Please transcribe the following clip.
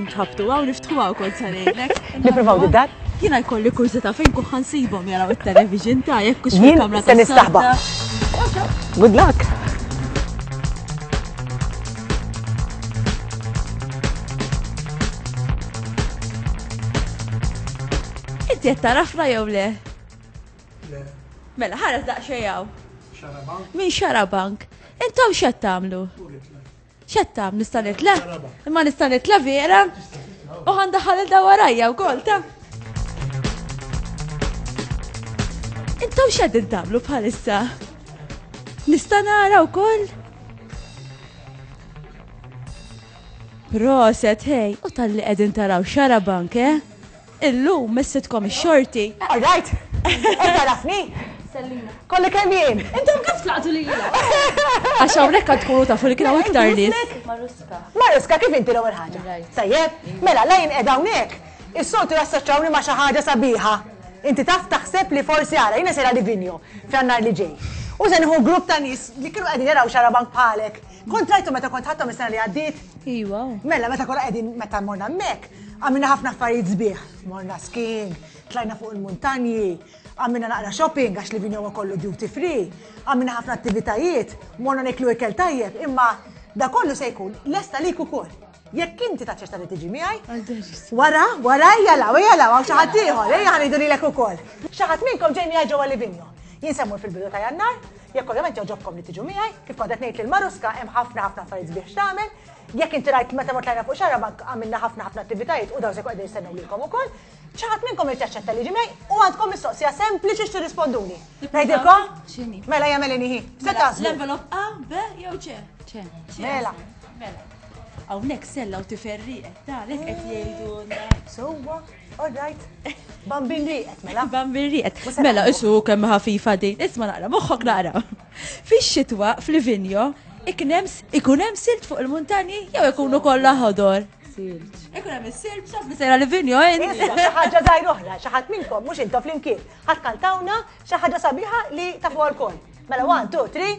Nħabtu għaw niftħu għaw kont sa ngħidlek. Nippruvaw bid-dar? Jiena jkolli kurzita fejn kuħan nsibhom jaraw it-television ta' jekk kux fil-kamra ta' nistaħba. Good luck! Inti qed tarafna jew le? Le. Mela ħares daqsxejn Min xarabank? Intom x'qed tagħmlu? Xetta, nista' nitla? Imma nista' nitla vera? U ħandaħal il-da warajja u kol ta' Intom xed intablu bħalissa? Nista' nara wkoll? Proset, hej, u tal-li qegħdin taraw xara bank, eh? Illum missitkom ix-xorti. Alright! Qed tagħrafni? Sellina. Kollek hemm jien! Intom kif tlaqtu lilha? Għax hawnhekk għad tkunu tafu li kien hawn iktar nies. Maruska. Maruska, kif inti l-ewwel ħaġa? Tajjeb? Mela, la jien qiegħda hawnhekk, is-soltu jassoċċawni ma' xi ħaġa sabiħa. Inti taf taħseb li forsi ara jiena sejra Livigno f'Jannar li ġej. U se nieħu grupp ta' nies li kienu qegħdin jaraw xarabank bħalek. Kont rajthom meta kont ħadthom is-sena li għaddiet? Iwa. Mela, meta kollha qegħdin meta morna hemmhekk, għamilna ħafna affarijiet sbieħ. Morna skiing, tlajna fuq il-muntanji, għamilna naqra shopping għax li vinjowa kollu duty free, għamilna ħafna attivitajiet, morna niklu ikel tajjeb, imma da kollu se jkun lesta lik ukoll. Jekk inti taċċetta li tiġi miegħi. Wara, wara ejja law, ejja law, xi ħadd ieħor, ejja ħanidu lilek ukoll. Xi ħadd minnkom ġej miegħi ġewwa Livinjo. Jien semmur fil-bidu ta' Jannar, jekk ovvjament joġobkom li tiġu miegħi, kif kont qed ngħid lil Maruska hemm ħafna ħafna affarijiet biex tagħmel. Jekk inti rajt meta mort lajna fuq xara bank għamilna ħafna ħafna attivitajiet u daw se qegħdin jistennew lilkom ukoll. Xi ħadd minnkom irid jaċċetta li ġi miegħi u għandkom mistoqsija sempliċi x'tirrisponduni. Ngħidilkom? Mela jagħmel inhi. Se taslu. L-envelop A, B jew C? C. Mela. Mela. Hawnhekk sella u tifel rieqed, għalhekk qed jgħidulna. Sewwa, all right. Bambin rieqed, mela. Bambin rieqed. Mela, isu kemm ħafifa din. Isma' naqra, moħħok naqra. Fix-xitwa, fl-vinjo, ikun hemm silt fuq il-muntanji jew ikunu kollha ħodor. Silt. Ikun hemm is-silt, xaf li sejra l-vinjo, eh? Xi ħaġa żgħir oħra, xi ħadd minnkom mhux intom flimkien. Ħadd kantawna xi ħaġa sabiħa li tafu wkoll. Mela, one, two, three.